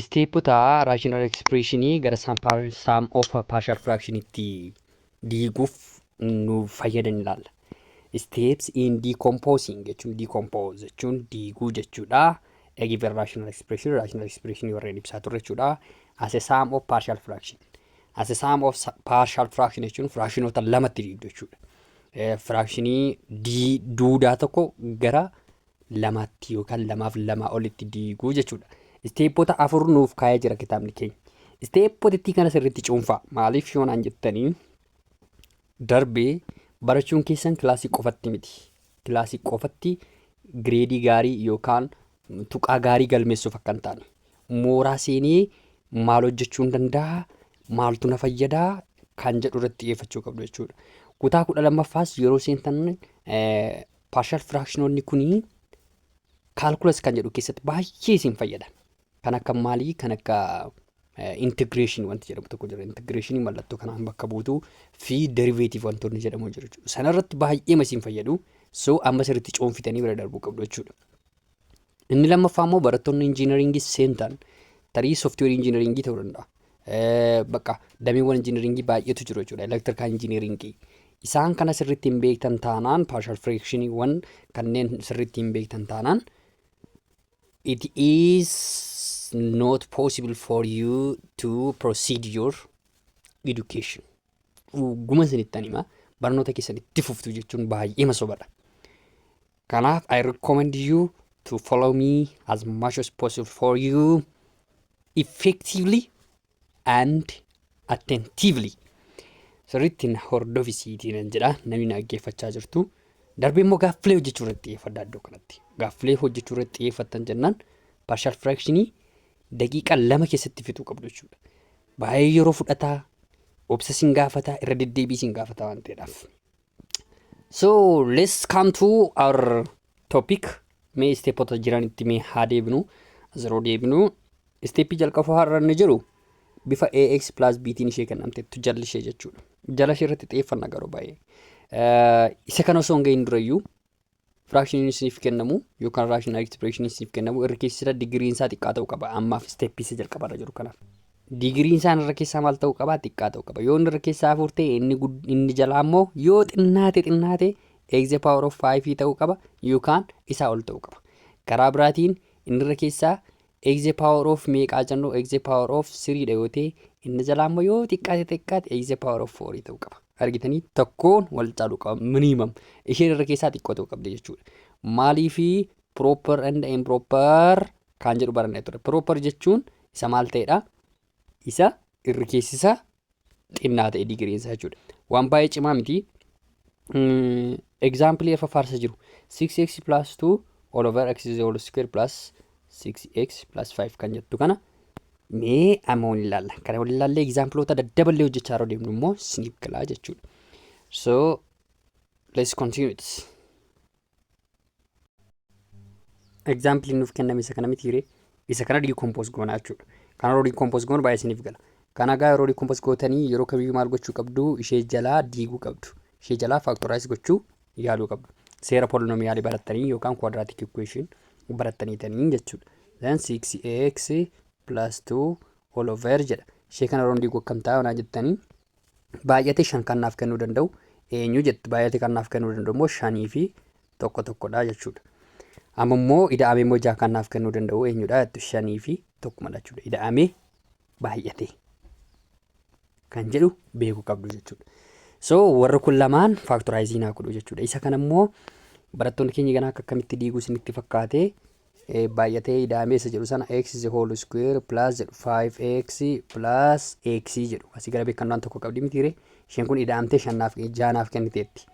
Isteepota raashinaal ekspreeshinii gara saam of paarshal firaakshinitti diiguuf nu fayyadan ilaalla. Steps in decomposing jechuun decompose jechuun diiguu jechuudha. A given rational expression, rational expression warreen ibsaa turre jechuudha. As a sum of partial fraction. As a sum of sa- partial fraction jechuun fraakshinoota lamatti diigdu jechuudha. Eh, Firaakshinii D duudaa tokko gara lamaatti yookaan lamaaf lamaa olitti diiguu jechuudha. Isteeppota afur nuuf kaa'ee jira kitaabni keenya. Isteeppotittii kana sirriitti cuunfaa. Maaliif yoo naan jettanii darbee barachuun keessan kilaasii qofatti miti. Kilaasii qofatti gireedii gaarii yookaan tuqaa gaarii galmeessuuf akka hin taane. Mooraa seenee maal hojjechuu hin danda'a, maaltu na fayyadaa kan jedhu irratti xiyyeeffachuu qabdu jechuudha. Kutaa kudha lammaffaas yeroo seentan eh, Paarshal firaakshinoonni kun kaalkulas kan jedhu keessatti baay'ee isin fayyada. Kan akka maalii kan akka intigireeshinii wanti jedhamu tokko jira. Intigireeshinii mallattoo kanaan bakka buutuu fi deriveetiif wantoonni jedhamu jiru jechuudha. Sanarratti baay'eema isin fayyadu. So amma sirriitti cuunfitanii bira darbuu qabdu jechuudha. Inni lammaffaa immoo barattoonni injiinariingii seentan tarii sooftiweerii injiinariingii ta'uu danda'a. Bakka dameewwan injiinariingii baay'eetu jiru jechuudha. Elektirikaal injiinariingii. Isaan kana sirriitti hin beektan taanaan paarshal fireekshiniiwwan kanneen sirriitti hin beektan taanaan it is not possible for you to proceed your education. Dhuguman isinittan hima barnoota keessan itti fuftu jechuun baay'eema sobadha. Kanaaf I recommend you to follow me as much as possible for you effectively and attentively. Sirriitti na hordofi siitii nan jedha namni na dhaggeeffachaa jirtu. Darbee immoo gaaffilee hojjechuu irratti xiyyeeffadha iddoo kanatti. Gaaffilee hojjechuu irratti xiyyeeffattan jennaan partial fractionii daqiiqa lama keessatti fixuu qabdu jechuudha. Baay'ee yeroo fudhata, obsa sin gaafata, irra deddeebii sin gaafata waan ta'eedhaaf. So let's come to our topic. Mee isteepota jiranitti mee haa deebinu. As yeroo deebinu isteeppii jalqabaa har'a inni jiru bifa AX plus B tiin ishee kennamteettu jalli ishee jechuudha. Jala ishee irratti xiyyeeffanna garuu baay'ee. Eh, Isa kana osoo hin gahin durayyuu Firaakshiniin isiniif kennamu yookaan raashinaal ekispireeshiniin isiniif kennamu irra keessi irra digiriin isaa xiqqaa ta'uu qaba. Ammaaf isteeppii isa jalqaba irra jiru kanaaf. Digiriin isaan irra keessaa maal ta'uu qaba? Xiqqaa ta'uu qaba. Yoo inni irra keessaa afur ta'e inni, inni jalaa immoo yoo xinnaate xinnaate eegze paawar of faayifii ta'uu qaba yookaan isaa ol ta'uu qaba. Karaa biraatiin inni irra keessaa X the power of meeqaa jennu X the power of 3 dha yoo ta'e inni jalaa immoo yoo xiqqaate xiqqaate X the power of 4 ta'uu qaba. Argitanii tokkoon wal caaluu qaba minimum isheen irra keessaa xiqqoo ta'uu qabdi jechuudha. Maaliifi proper and improper kan jedhu barannee ture. Proper jechuun isa maal ta'edha? Isa irri keessi isaa xinnaa ta'e digiriin isaa jechuudha. Waan baay'ee cimaa miti. Egzaampilii irra faarsa jiru 6x plus 2 all over x is all square plus 6x plus 5 kan jettu kana mee amma waliin ilaalla. Kana waliin ilaallee egzaampiloota daddaballee hojjechaa yeroo deemnu immoo isiniif galaa jechuudha. So let's continue this. Example nuuf kenname isa kana mitiire isa kana decompose goona jechuudha. Kana yeroo decompose goonu baay'ee isiniif gala. Kana egaa yeroo decompose gootanii yeroo kamiyyuu maal gochuu qabdu ishee jalaa diiguu qabdu. Ishee jalaa factorize gochuu yaaluu qabdu. Seera polinomiyaalii barattanii yookaan quadratic equation barattaniitanii jechuudha. Then 6ax plus 2 all over jedha. Ishee kana yeroo diigu akkam ta'a yoo naan jettanii Baay'ate shan kan naaf kennuu danda'u eenyu jette baay'ate kan naaf kennuu danda'u immoo shanii fi tokko tokkodha jechuudha. Amma immoo ida'amee immoo jaha kan naaf kennuu danda'u eenyudha jettu shanii fi tokkumadha jechuudha. Ida'amee baay'ate kan jedhu beekuu qabdu jechuudha. So warri kun lamaan faaktoraayiziin haa godhu jechuudha. Isa kana immoo barattoonni keenya ganaa akka akkamitti diiguu isinitti fakkaate baay'atee ida'amee isa jedhu sana x is whole square plus jedhu 5x plus x jedhu asii gara beekannaan tokko qabdi mitiire isheen kun ida'amtee shannaaf jaanaaf kenniteetti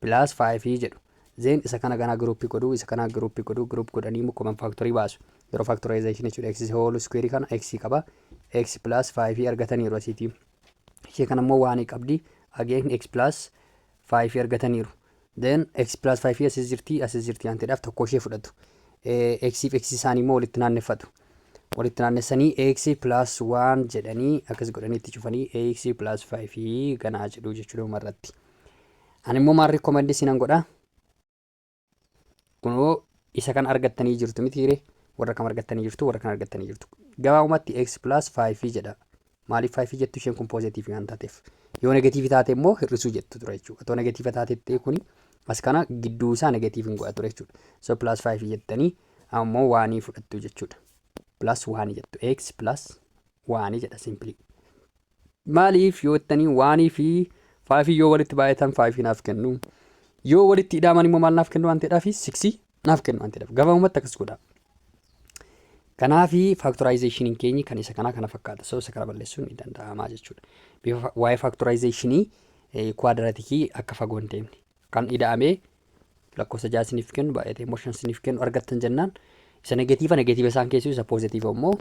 plus 5 jedhu zeen isa kana ganaa giruuppii godhuu isa kana giruuppii godhuu giruup godhanii immoo koman faaktorii baasu yeroo faaktoraayizeshin jechuudha x is whole square kana x qaba x plus 5 argataniiru asiitii ishee kana immoo waan qabdi again x plus 5 argataniiru. Then x plus 5 asis jirti asis jirti waan ta'eedhaaf tokko ishee fudhatu. x fi x isaanii immoo walitti naanneffatu. Walitti naannessanii x plus 1 jedhanii akkas godhanii itti cufanii x plus 5 ganaa jedhu jechuudha dhumarratti. Ani immoo maal rikkomandii isinan godha? kunoo isa kan argattanii jirtu mitiire warra kam argattanii jirtu warra kan argattanii jirtu gabaabumatti x plus 5 jedha maaliif 5 jettu isheen kun poozitiivii waan taateef yoo negatiivii taate immoo hir'isuu jettu ture jechuudha otoo negatiiva taatettee kuni as kana gidduu isaa negatiiviin godha ture jechuudha so plus 5 jettanii ammoo waanii fudhattu jechuudha plus 1 jettu x plus 1 jedha simpilii Maaliif yoo jettanii waanii fi faayifiin yoo walitti baay'atan faayifii naaf kennu. Yoo walitti idaaman immoo maal naaf kennu waan ta'eedhaa fi siksii naaf kennu waan ta'eedhaaf gabaabumatti akkas godha. Kanaafi faaktoraayizeeshiniin keenyi kan isa kanaa kana fakkaata. So isa kana balleessuun ni danda'ama jechuudha. Bifa waa'ee faaktoraayizeeshinii kuwaadiratikii akka fagoo hin deemne. kan ida'amee lakkoofsa ja'a isiniif kennu baay'atee immoo shan isiniif kennu argattan jennaan isa negatiiva negatiiva isaan keessuu isa poozitiiva immoo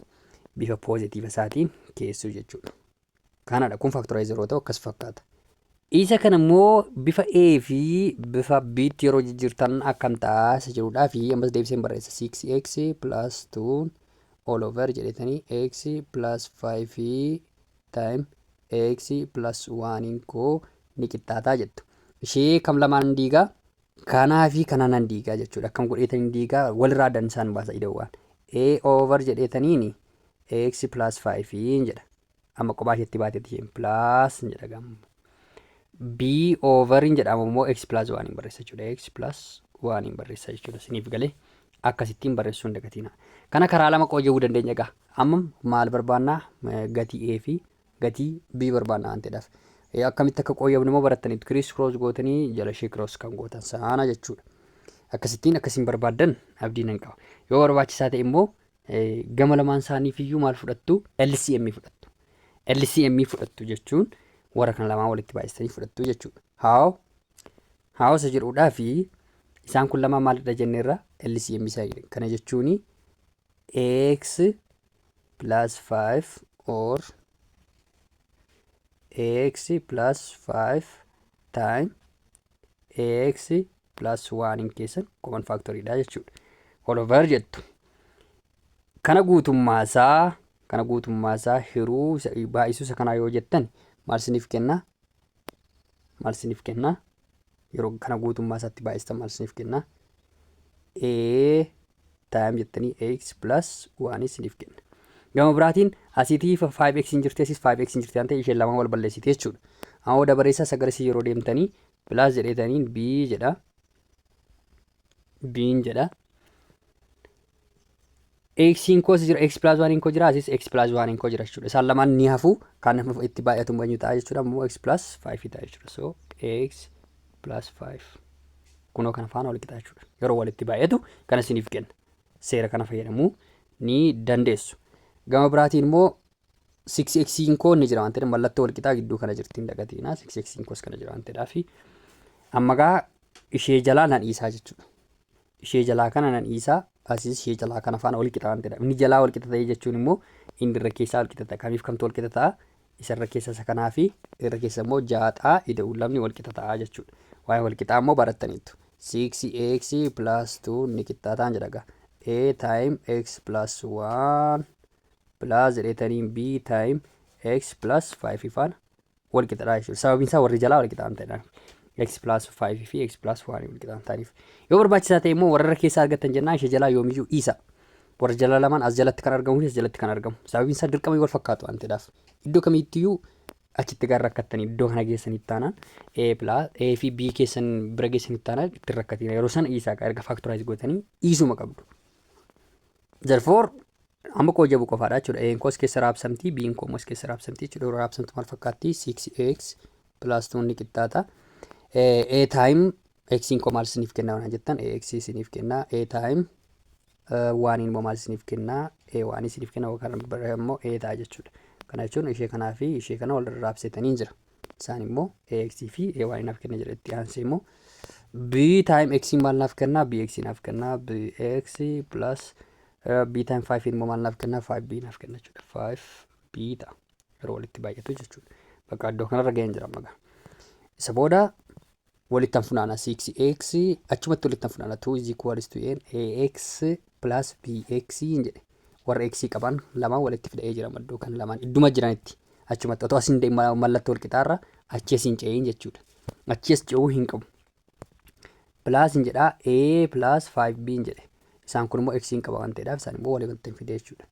bifa poozitiiva isaatiin keessuu jechuudha. Kanadha kun faaktoraayizer yoo ta'u akkas fakkaata. Isa kana immoo bifa A fi bifa B tti yeroo jijjiirtan akkam ta'a isa jedhudhaa fi ammas deebiseen barreessa 6x plus 2 all over jedhetanii x plus 5 time x plus 1n koo ni qixxaataa jettu. Ishee kam lamaan hin diigaa? Kanaa fi kana nan diigaa jechuudha. Akkam godheetan hin diigaa walirraa addan isaan baasa idawwaan. a over jedheetaniini x plus 5n jedha. Amma kophaa isheetti baatetti isheen plus jedha gamu. b over hin jedhamu immoo x plus 1 hin barreessa jechuudha. x plus 1 hin barreessa jechuudha. Isiniif galee akkasittiin barreessuu hin dagatiinaa. Kana karaa lama qooje'uu dandeenya egaa. Amma maal barbaanna? Gatii A fi gatii B barbaanna waan ta'eedhaaf. Akkamitti akka qooyyabnu immoo barattaniitu. Kiriis kiroos gootanii jala ishee kiroos kan gootan saana jechuudha. Akkasittiin akkasiin barbaaddan abdii nan qaba. Yoo barbaachisaa ta'e immoo gama lamaan isaaniif iyyuu maal fudhattu? LCM fudhattu. LCM fudhattu jechuun warra kana lamaan walitti baay'istanii fudhattu jechuudha. How? Haawasa jedhuudhaa fi isaan kun lamaan maalidha jenne irra LCM isa kana jechuun x plus 5 or x plus 5 time x plus 1 in keessan common factory dha jechuudha. All over jettu. Kana guutummaa isaa kana guutummaa isaa hiruu baay'isuu isa kanaa yoo jettan maal isiniif kenna? maal isiniif kenna? Yeroo kana guutummaa isaatti baay'istan maal isiniif kenna? A taayim jettanii x plus 1 isiniif kenna. Gama biraatiin asiitii 5x hin jirti asiis 5x hin jirti waan ta'eef isheen lamaan wal balleessiti jechuudha. Amma dabareessaa sagalee yeroo deemtanii plus jedheetaniin b jedha. biin jedha eksiin koos jira eksi pilaas waaniin koo jira asis eksi pilaas waaniin koo jira jechuudha isaan lamaan ni hafu kan itti baay'atu eenyu ta'a jechuudha immoo eksi pilaas faayifii ta'a jechuudha so eksi pilaas faayif kunoo kana faana wal qixa jechuudha yeroo walitti baay'atu kana isiniif kenna seera kana fayyadamuu ni dandeessu gama biraatiin immoo 6x koo inni jira waan ta'eef mallattoo walqixaa gidduu kana jirti hin dagatiina 6x koos kana jira waan ta'eedhaaf amma gaa ishee jalaa nan dhiisaa jechuudha. Ishee jalaa kana nan dhiisaa asiis ishee jalaa kana faana walqixa waan ta'eedhaaf inni jalaa walqixa ta'ee jechuun immoo inni irra keessaa walqixa ta'a kamiif kamtu walqixa ta'a isa irra keessa isa kanaa fi irra keessa immoo jaaxaa ida'uun lamni walqixa ta'a jechuudha. Waa'ee walqixaa immoo barattaniitu. 6x plus 2 ni qixxaataan jedhaga. a time x plus 1 plus returning b time x plus 5 faana wal qixadha jechuudha. Sababiin isaa warri jalaa wal qixaan ta'edhaan x plus 5 fi x plus 1 wal qixaan ta'aniif. Yoo barbaachisaa ta'e immoo warra keessa argattan jennaan ishee jalaa yoomiyyuu dhiisa. Warra jalaa lamaan as jalatti kan argamu fi as jalatti kan argamu. Sababiin isaa dirqama wal fakkaatu waan ta'edhaaf. Iddoo kamiittiyyuu achitti gara rakkattanii iddoo kana geessanitti taanaan a plus a fi b keessan bira geessanitti taanaan itti rakkatina yeroo sana dhiisaa erga faaktoraayiz gootanii dhiisuma qabdu. Therefore, amma koo jabu qofaadha jechuudha. A'n koos keessa raabsamti, B'n koo immoos keessa raabsamti jechuudha. Yeroo raabsamtu maal fakkaatti? 6x plus 2 ni qixxaata. A time x'n koo maal isiniif kenna waan jettan ax isiniif kenna. A time waaniin immoo maal isiniif kenna? A waan isiniif kenna yookaan barreeffama immoo A ta'a jechuudha. Kana jechuun ishee kanaa fi ishee kana wal raabsitaniin jira. Isaan immoo AX fi AY naaf kenna jedha itti aansee immoo B time X maal naaf kenna BX naaf kenna BX plus eh, B time 5 immoo maal naaf kenna 5B naaf kenna jechuudha 5B ta'a yeroo walitti baay'atu jechuudha bakka iddoo kanarra ga'een jira magaa isa booda walittan funaana 6x achumatti walittan funaana 2 is equals to n ax plus bx hin jedhe warra x qaban lamaan walitti fida'ee jira maddoo kan lamaan idduma jiranitti achumatti otoo asiin de- ma- mallattoo walqixaarra achi asiin ce'iin jechuudha achi as ce'uu hin qabu plus hin jedha a plus 5b hin jedhe isaan kun immoo x hin qaba waan ta'eedhaaf isaan immoo walii walitti hin fide jechuudha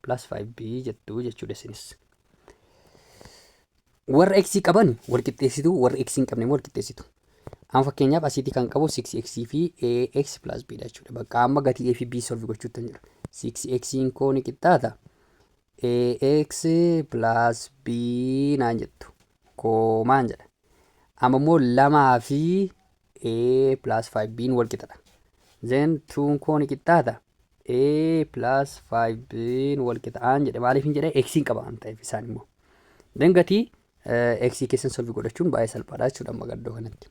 plus 5b jettu jechuudha isinis Warra x qaban wal qixxeessitu, warra x hin qabne immoo wal qixxeessitu. Amma fakkeenyaaf asiitii kan qabu 6x fi ax plus b dha jechuudha. Bakka amma gatii a fi b solve gochuutti hin jira. 6x koo ni qixxaata. ax plus b naan jettu. Koomaan jedha. Amma immoo lamaa fi a plus 5b wal qixxaata. Then 2 koo ni qixxaata. a plus 5b wal qixxaata jedhe maaliif hin jedhe x hin qaba waan ta'eef isaan immoo. Then gatii eh, x keessan solvi godhachuun baay'ee salphaadha jechuudha amma gaddoo kanatti.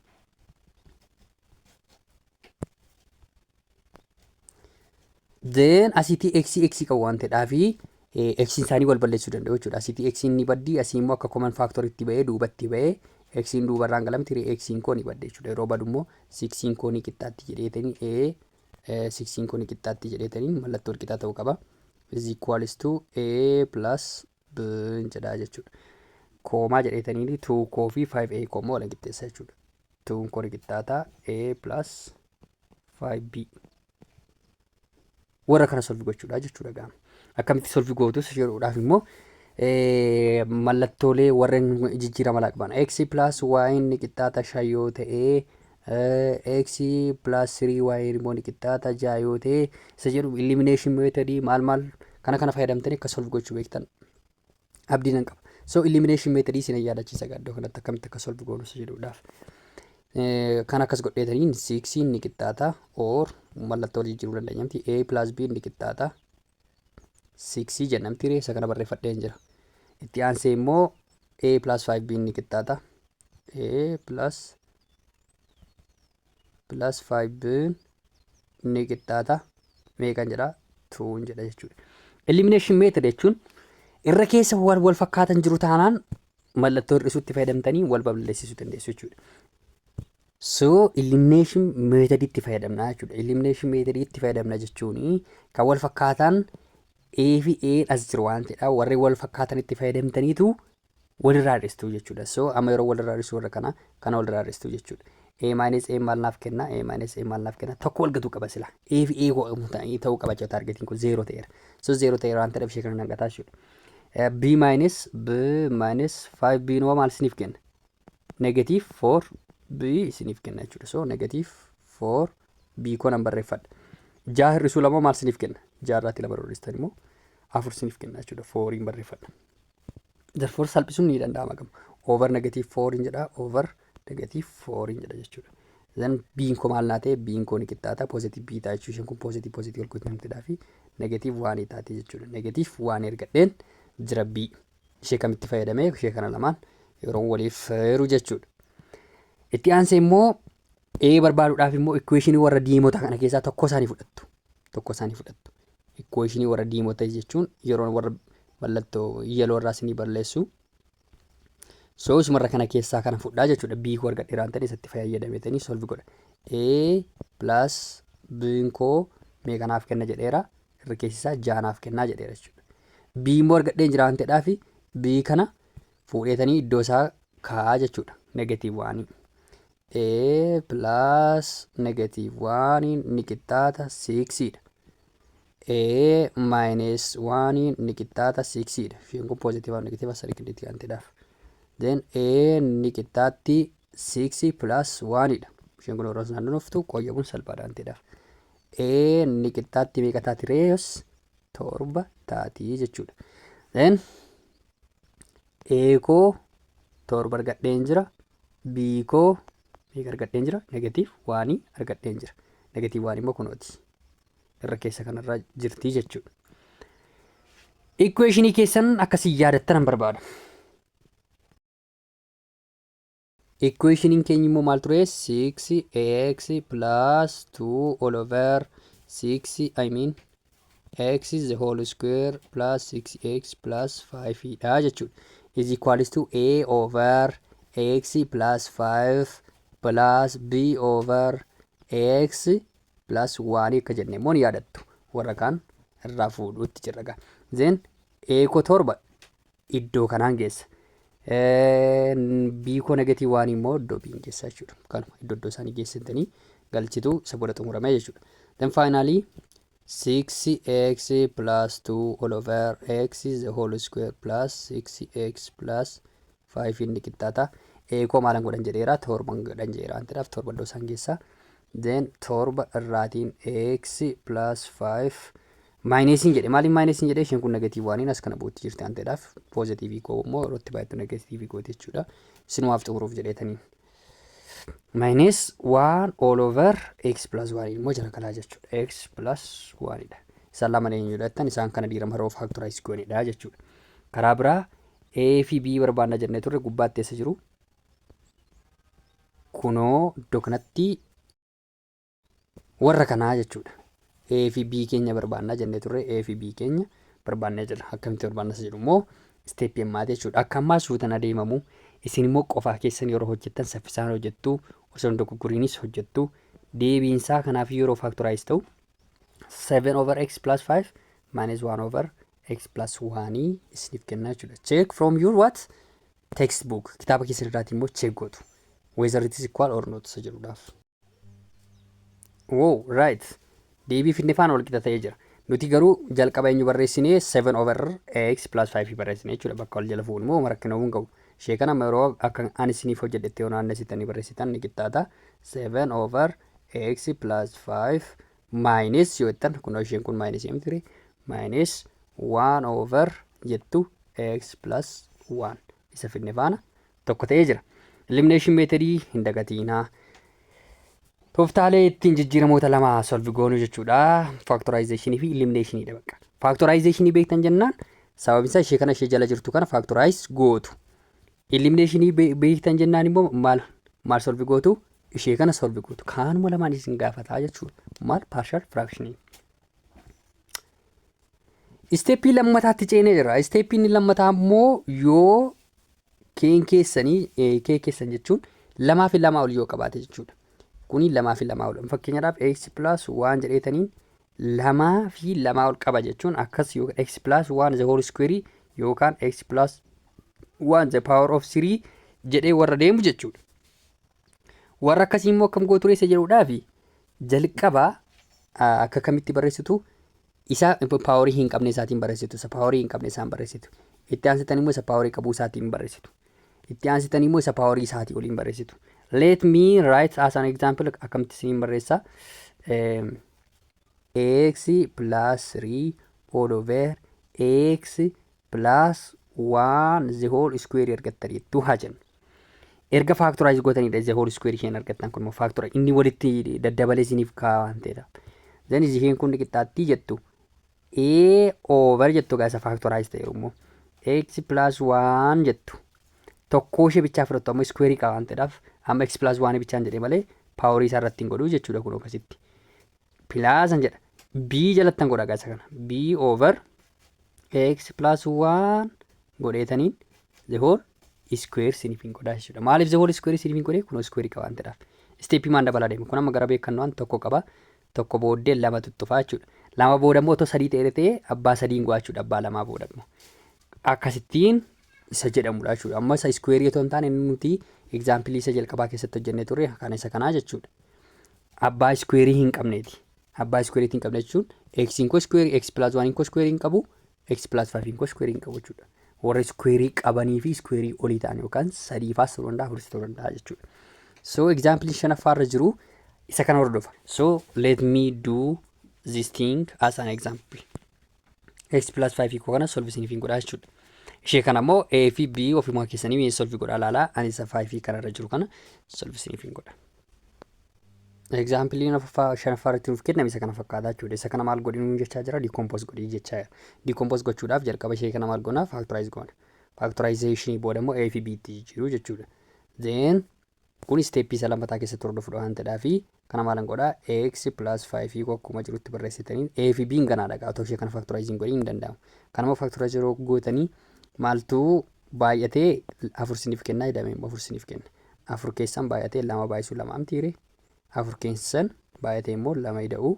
Then asitii x x qabu waan ta'eedhaaf eh, x isaanii wal balleessuu danda'u jechuudha. Asitii x ni baddi asii immoo akka common factor itti ba'ee duubatti ba'ee x duubarraan galamti ree x koo ni badde jechuudha. Yeroo badu immoo 6 koo ni qixxaatti jedheetanii a eh, 6 koo ni qixxaatti jedheetanii mallattoo wal qixaa ta'uu qaba. is equals to a plus hin jedhaa jechuudha. Koomaa jedheetanii tuu koo fi 5A koo immoo waliin qixxeessa jechuudha. Tuun koo ni qixxaataa A plus 5B. Warra kana solvi gochuudha jechuudha gaama. Akkamitti solvi gootus jedhuudhaaf immoo mallattoolee warreen jijjiirama laaqbana. X plus Y ni qixxaata 5 yoo ta'ee x plus 3y immoo ni qixxaata 6 yoo ta'e isa jedhu elimination method maal maal kana kana fayyadamtanii akka solve gochuu beektan abdii nan qaba. So elimination method isin yaadachiisa gaaddo kanatti akkamitti akka solve goonu isa jedhuudhaaf. Kan akkas godheetaniin 6 ni qixxaata or mallattoo wal jijjiiruu dandeenya miti a plus b ni qixxaata 6 jennamti ree isa kana barreeffadheen jira. Itti aansee immoo a plus 5 b ni qixxaata a plus plus 5 ni qixxaata meeqan jedha 2 jedha jechuudha. Elimination method jechuun irra keessa waan wal fakkaatan jiru taanaan mallattoo hir'isuutti fayyadamtanii wal balleessisuu dandeessu jechuudha. So elimination method itti fayyadamna jechuudha. Elimination method itti fayyadamna jechuun kan wal fakkaataan A fi A as jiru waan ta'edha. Warri wal fakkaatan itti fayyadamtaniitu walirraa hir'istuu jechuudha. So amma yeroo walirraa hir'isuu warra kana kana walirraa hir'istuu jechuudha. A minus A maal naaf kenna? A minus A maal naaf kenna? Tokko wal gatuu qaba sila. A fi A go- ta- ta'uu qaba jechuudha taargetiin kun zeeroo ta'eera. So zeeroo ta'eera waan ta'eef ishee kana nan gataa jechuudha. Eh, B minus B minus 5 B noo maal isiniif kenna? Negative 4 B isiniif kenna jechuudha. So negative 4 B koo nan barreeffadha. Ja'a hir'isuu lama maal isiniif kenna? Ja'a irraatti lama hir'istan immoo afur isiniif kenna jechuudha. Fooriin barreeffadha. Therefore salphisuun ni danda'ama gama. Over negative 4 hin jedha. Over negative 4 hin jedha jechuudha. Then biin koo maal naa ta'e biin koo ni qixxaata positive bii ta'a jechuudha. Isheen kun positive positive wal gootee namtidhaa fi negative 1 taate jechuudha. Negative 1 ergadheen jira bii. Ishee kamitti fayyadamee ishee kana lamaan yeroo waliif heeru jechuudha. Itti aansee immoo A barbaaduudhaaf immoo equation warra diimotaa kana keessaa tokko isaanii fudhattu. tokko isaanii fudhattu. Ikkuweeshinii warra diimota jechuun yeroo warra mallattoo yeloo irraa isinii balleessu. So isumarra kana keessaa kana fudhaa jechuudha. B koo argadhe irraan ta'e isatti fayyadametanii solve godha. A plus B koo mee kanaaf kenna jedheera. Irra keessisaa jaanaaf kennaa jedheera jechuudha. B immoo argadhee jiraan ta'edhaa fi B kana fuudheetanii iddoo isaa kaa'aa jechuudha. Negatiiv waanii. A plus negative 1 ni qixxaata 6 dha. A minus 1 ni qixxaata 6 dha. Fiin kun positive negative sarikiliitti kan ta'edhaaf. Then A ni qixxaatti 6 plus 1 dha. Isheen kun warra sanaan dhuftu qoyyabuun salphaadha kan ta'edhaaf. A ni qixxaatti meeqa taati reeyos torba taati jechuudha. Then A koo torba argadheen jira. B koo meeqa argadheen jira? Negatiiv waanii argadheen jira. Negatiiv waan immoo kunooti. Irra keessa kanarra jirti jechuudha. Ikkuweeshinii keessan akkasii yaadattan hin barbaada. Ikkuweeshiniin keenya immoo maal ture? 6x plus 2 all over 6 I mean x the whole square plus 6x plus 5 dha jechuudha. is equals to a over x plus 5 plus b over x plus 1 akka jenne immoo ni yaadattu warra kaan irraa fuudhuutti jirra gaa then a koo torba iddoo kanaan geessa Eh, b koo negatii waan immoo iddoo b hin geessa jechuudha kanuma iddoo iddoo isaanii geessitanii galchitu isa booda xumurame jechuudha then finally 6x plus 2 all over x is the whole square plus 6x plus 5 inni qixxaata. A koo maalan godhan jedheera torban godhan jedheera waan ta'eef torba iddoo isaan geessa. Then torba irraatiin x plus 5 maayinesiin jedhe maaliin maayinesiin jedhe isheen kun negatiivii waaniin as kana buutti jirti waan ta'eef poozitiivii koo immoo irratti baay'attu negatiivii gooti jechuudha. Isinumaaf xumuruuf jedheetaniin. minus 1 all over x plus 1 immoo jala galaa jechuudha. x plus 1 dha. Isaan lamaan eenyudha jettan isaan kana diiramara of factorize goonedha jechuudha. Karaa biraa a fi b barbaanna jennee turre gubbaatti eessa jiru? Kunoo iddoo kanatti warra kanaa jechuudha. A fi B keenya barbaannaa jennee turre A fi B keenya barbaannee jirra. Akkamitti barbaannas jedhu immoo isteeppii ammaati jechuudha. Akka ammaa suutan adeemamu isin immoo qofaa keessan yeroo hojjettan saffisaan hojjettu osoo hin dogoggoriinis hojjettu deebiinsaa kanaaf yeroo faaktoraayiz ta'u 7 over x plus 5 minus 1 over x plus 1 isiniif kenna jechuudha. Check from your what? Textbook. Kitaaba keessan irraatii immoo check gootu. Whether it is equal or not isa jedhuudhaaf. Wow, right. Deebii finne faana wal qixa ta'ee jira. Nuti garuu jalqaba eenyu barreessinee 7 over x plus 5 barreessine jechuudha. Bakka wal jala fuudhu moo rakkina uumuu hin qabu. Ishee kana amma yeroo akka ani isiniif hojjedhetti yoo naannessitanii barreessitan ni qixxaata. 7 over x plus 5 minus yoo jettan kunoo isheen kun minus hin firi minus 1 over jettu x plus 1 isa finne faana tokko ta'ee jira. Elimination meetadii hin dagatiinaa. Tooftaalee ittiin jijjiiramoota lama solvi goonuu jechuudha. Faaktoraayizeeshinii fi eliminationiidha bakka. Faaktoraayizeeshinii beektan jennaan sababni isaa ishee kana ishee jala jirtu kana faaktoraayiz gootu. Eliminationi beektan jennaan immoo maal maal solvi gootu ishee kana solvi gootu. Kaanuma lamaan isin gaafataa jechuudha. Maal paarshal firaakshiniin. Isteeppii lammataatti ceenee jira. Isteeppiin inni lammataa immoo yoo keen keessanii eh, kee keessan jechuun lamaa fi lamaa ol yoo qabaate jechuudha. Kuni lamaa fi lamaa ol. Fakkeenyaaf x plus waan jedheetaniin lamaa fi lamaa ol qaba jechuun akkas yoo x plus waan the whole square yookaan x plus waan the power of three jedhee warra deemu jechuudha. Warra akkasii immoo akkam gootu reessa jedhuudhaaf jalqaba akka kamitti barreessitu isa paaworii hin qabne isaatiin barreessitu isa paaworii hin qabne isaan barreessitu itti aansitan immoo isa paaworii qabuu isaatiin barreessitu itti aansitan immoo isa paaworii isaatii oliin barreessitu let me write as an example akkamitti isiniin barreessa ax plus 3 all over ax plus 1 the whole square argattan jettu haa jennu. Erga faaktoraayiz gootaniidha the whole square isheen argattan kun immoo faaktora inni walitti daddabalee isiniif kaa'a waan ta'eedha. Zan isheen kun qixxaattii jettu a over jettu gaasa faaktoraayiz ta'eeru immoo x plus 1 jettu tokkoo ishee bichaa fudhattu amma iskuweerii qaba waan ta'eedhaaf amma x plus 1 bichaan jedhee malee paaworii isaa irratti hin godhu jechuudha kun akkasitti pilaasan jedha b jalattan godha gaasa kana b over x plus 1 godheetaniin the whole iskuweer siniif hin godhaa jechuudha maaliif the whole iskuweer siniif hin godhee kun iskuweerii qaba waan ta'eedhaaf isteeppii maan dabalaa deema kun amma gara beekannoo waan tokko qaba tokko booddee lama tuttufaa jechuudha lama booda immoo otoo sadii ta'ee ta'ee abbaa sadiin go'aa jechuudha abbaa lamaa booda immoo akkasittiin isa jedhamudha jechuudha. Amma isa iskuweerii otoo hin taane inni nuti egzaampilii isa jalqabaa keessatti hojjennee turre kan isa kanaa jechuudha. Abbaa iskuweerii hin qabneeti. Abbaa iskuweerii hin qabne jechuun eksiin koo iskuweerii eksi pilaas waaniin koo iskuweerii hin qabu eksi pilaas faayiviin koo iskuweerii hin qabu jechuudha. Warra iskuweerii qabanii fi iskuweerii olii ta'an yookaan sadii faas ta'uu danda'a afuris ta'uu danda'a jechuudha. So egzaampilii shanaffaa irra jiru isa kana hordofa. So let me do this thing as an example. x plus 5 hiikoo kana solve isiniif hin godhaa jechuudha. Ishee kana immoo a fi b ofumaa keessanii mee solve godhaa laalaa ani isa 5 fi kanarra jiru kana solve isiniif hin godha. Egzaampiliin afaffaa shanaffaa irratti nuuf kenname isa kana fakkaataa jechuudha. Isa kana maal godhi nuun jechaa jira dikoompoos godhi jechaa jira. Dikoompoos gochuudhaaf jalqaba ishee kana maal goona faaktoraayiz goona. Faaktoraayizeeshinii booda immoo a fi b itti jijjiiruu jechuudha. Then Kun step isa lammataa keessatti hordofudha waan ta'edhaafi kana maalan godha ax plus 5 hiiku akkuma jirutti barreessitaniin a fi b'n ganaadha gaa otoo ishee kana factorize hin godhin hin danda'amu kanammoo factorize yeroo gootanii maaltu baay'atee afur siniif kennaa jedhame immoo afur siniif kenna afur keessan baay'atee lama baay'isuu lama amtiire afur keessan baay'atee immoo lama ida'uu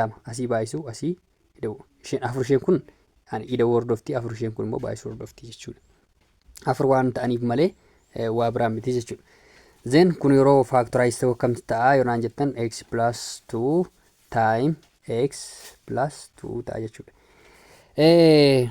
lama asii baay'isuu asii ida'uu isheen afur isheen kun ani ida'uu hordofti afur isheen kun immoo baay'isuu hordofti jechuudha. Afur waan ta'aniif malee eh, waa biraa miti jechuudha. Zeen kun yeroo faaktoraayiz ta'u akkamti ta'a yoonaan jettan x plus 2 time x plus 2 ta'a jechuudha. Eh,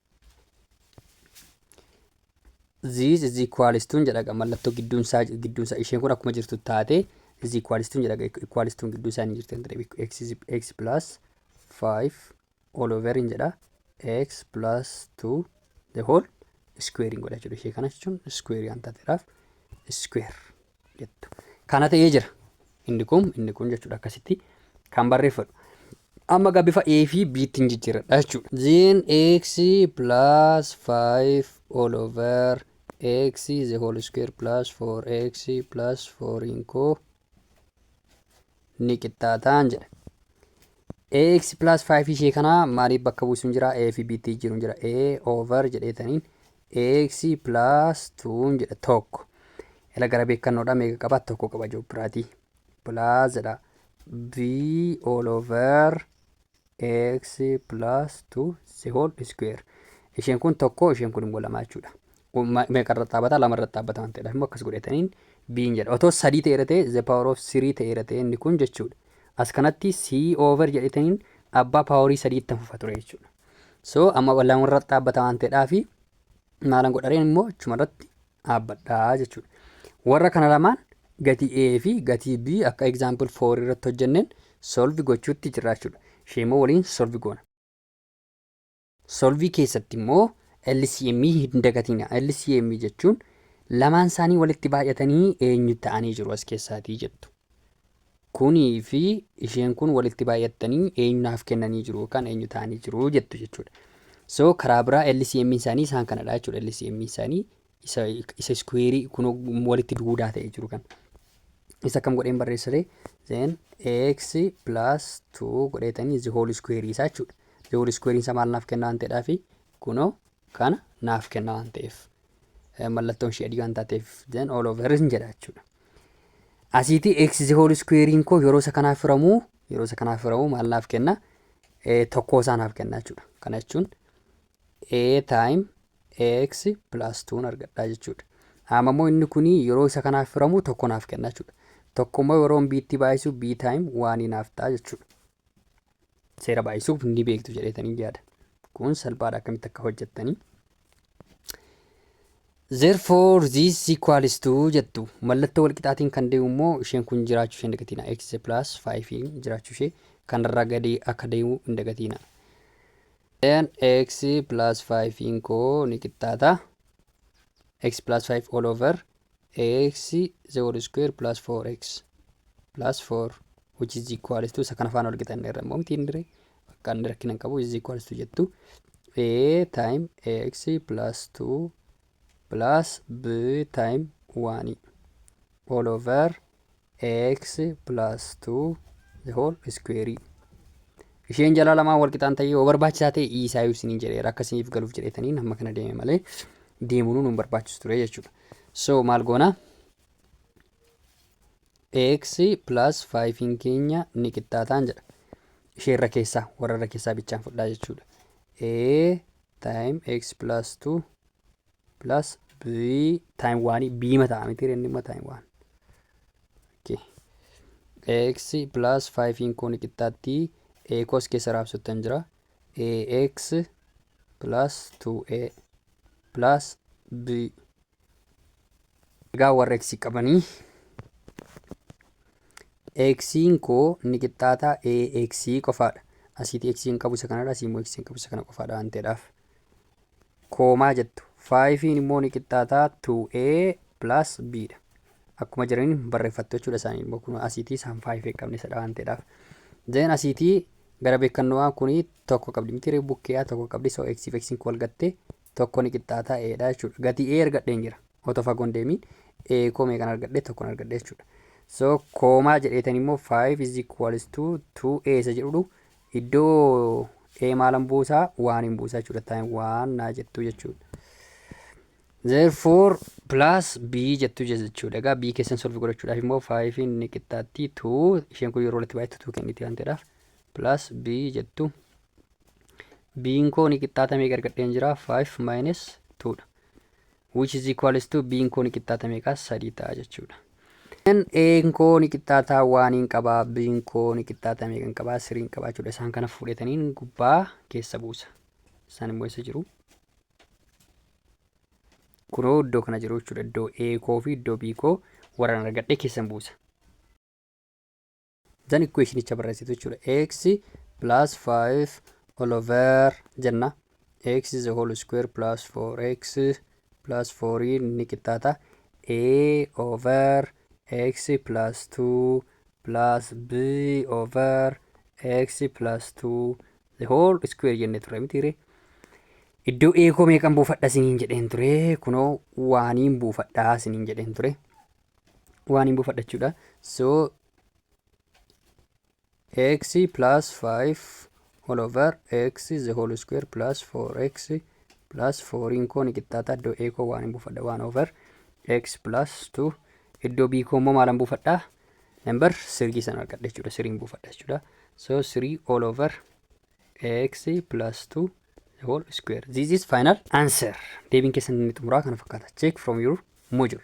Ziis is equalistuun jedhaga mallattoo gidduun isaa gidduun isaa isheen kun akkuma jirtu taate is equalistuun jedhaga equalistuun gidduu isaa ni jirti kan ta'e x is x plus 5 all over hin jedha x plus 2 the whole square hin godha jechuudha ishee kana jechuun square waan taateedhaaf square jettu. Kana ta'ee jira. Inni kun inni kun jechuudha akkasitti kan barreeffadhu. Amma egaa bifa A fi B ittiin jijjiirradha jechuudha. Then x plus 5 all over x the whole square plus 4x plus 4 in co ni qixxaataan jedha. ax plus 5 ishee kana maaliif bakka buusuun jira a fi b tti jiruun jira a over jedheetaniin ax plus 2 jedha tokko ila gara beekannoodha meeqa qaba tokko qaba joobbiraatii plus jedha b all over ax plus 2 the whole square isheen kun tokko isheen kun immoo lama jechuudha. Meeqa irratti dhaabbata lama irratti dhaabbata waan ta'eedha immoo akkas godhataniin biin jedha otoo sadii ta'eera ta'e the power of three ta'eera ta'e inni kun jechuudha. As kanatti c over jedhataniin abbaa paaworii sadii itti fufa ture jechuudha. So amma lama irratti dhaabbata waan ta'eedhaa fi maalan godhareen immoo achuma irratti dhaabbadha jechuudha. Warra kana lamaan gatii A fi gatii B akka example 4 irratti hojjenneen solve gochuutti jirra jechuudha. Ishee immoo waliin solve goona. Solvii keessatti immoo LCM hin dagatiina. LCM jechuun lamaan isaanii walitti baay'atanii eenyu ta'anii jiru as keessaatii jettu. Kuni fi isheen kun walitti baay'attanii eenyu naaf kennanii jiru yookaan eenyu ta'anii jiru jettu jechuudha. So karaa biraa LCM isaanii isaan kanadha jechuudha. LCM isaanii isa isa iskuweerii kun walitti duudaa ta'ee jiru kan. Isa kam godheen barreessire then x plus 2 godheetanii the whole square isaa jechuudha. The whole square isaa maal naaf kenna waan ta'eedhaa fi kunoo kana naaf kenna waan ta'eef mallattoon ishee adii waan taateef then all over hin jedha jechuudha. Asiitii x the whole square'iin koo yeroo isa kanaaf firamu yeroo isa kanaaf firamu maal naaf kenna tokkoo isaa naaf kenna jechuudha. Kana jechuun a time x plus 2 argadhaa jechuudha. Amma immoo inni kun yeroo isa kanaaf firamu tokko naaf kenna jechuudha. Tokko immoo yeroo b itti baay'isu b time 1 naaf ta'a jechuudha. seera baay'isuuf ni beektu jedheetanii yaada. Kun salphaadha akkamitti akka hojjettanii. Therefore this equals to jettu mallattoo walqixaatiin kan deemu immoo isheen kun jiraachuu ishee hin dagatiina x plus 5 jiraachuu ishee kanarraa gadi akka deemu hin dagatiina. Then x plus 5 koo ni qixxaata x plus 5 all over ax the whole square plus 4x plus 4 which is equals to isa kana faana wal qixa inni irra immoo miti inni irra bakka inni rakkina hin qabu is equals to jettu a time ax plus 2 plus b time 1 all over ax plus 2 the whole square isheen jalaa lamaan wal qixaan ta'ee yoo barbaachisaa ta'e iisaayyuu isiniin jedheera akka isiniif galuuf jedheetaniin hamma kana deeme malee deemuun nu hin barbaachisu ture jechuudha. So maal goona? ax plus 5n keenya ni qixxaataan jedha. Ishee irra keessaa warra irra keessaa bichaan fudhaa jechuudha. a time x plus 2 plus b time 1 b ma ta'a miti inni ma time 1 okay x plus 5 in kun qixxaatti a kos keessa raabsattan jira ax plus 2a plus b egaa warra x qabanii xiin koo ni qixxaataa ax qofaadha asiiti x hin qabu isa kanadha asiimmoo x hin qabu isa kana qofaadha waan ta'eedhaaf koomaa jettu. 5n immoo ni qixxaataa 2a plus b dha. Akkuma jiraniin barreeffattu jechuudha isaanii immoo kun asiitii isaan 5 qabne sadha waan ta'eedhaaf. Zeen asiitii gara beekanno'aa kun tokko qabdi miti ree bukkee'aa tokko qabdi so x fi x wal gatte tokko ni qixxaataa a dha jechuudha. Gatii a argadheen jira otoo fagoon deemiin a koo meeqan argadhe tokkon argadhe jechuudha. So koomaa jedheetan immoo 5 is equals to 2a isa jedhudhu Iddoo A maalan buusaa? Waanin buusaa jechuudha. Time waan naa jettu jechuudha. Therefore plus B jettu jechuudha. Egaa B keessan solve godhachuudhaaf immoo 5 ni qixxaatti 2 isheen kun yeroo walitti baay'attu 2 kenniti waan ta'eedhaaf plus B jettu. B'n koo ni qixxaatamee gargadheen jira 5 minus 2 dha. which is equals to b'n koo ni qixxaata meeqa? sadii ta'a jechuudha. Then a'n koo ni qixxaata waaniin qaba, b'n koo ni qixxaata meeqan qaba? siriin qaba jechuudha. Isaan kana fuudheetaniin gubbaa keessa buusa. Isaan immoo eessa jiru? Kunoo iddoo kana jiru jechuudha. Iddoo A koo fi iddoo B koo warran argadhee keessan buusa. Then equationicha barreessitu jechuudha. x plus 5 all over jenna. x is a whole square plus 4x plus 4 ni qixxaata. a over x plus 2 plus b over x plus 2 the whole square jenne ture mitiire. Iddoo eekoo meeqan buufadha siniin jedheen ture. Kunoo waaniin buufadhaa siniin jedheen ture. waan hin buufadha jechuudha so x plus 5 whole over x the whole square plus 4x plus 4 in koo ni qixxaata iddoo a koo waan hin buufadha waan over x plus 2 iddoo b koo immoo maalan buufadha number 3 san argadha jechuudha 3 buufadha jechuudha so 3 all over ax plus 2 the whole square. This is final answer. Deebiin keessan inni xumuraa kana fakkaata. Check from your module.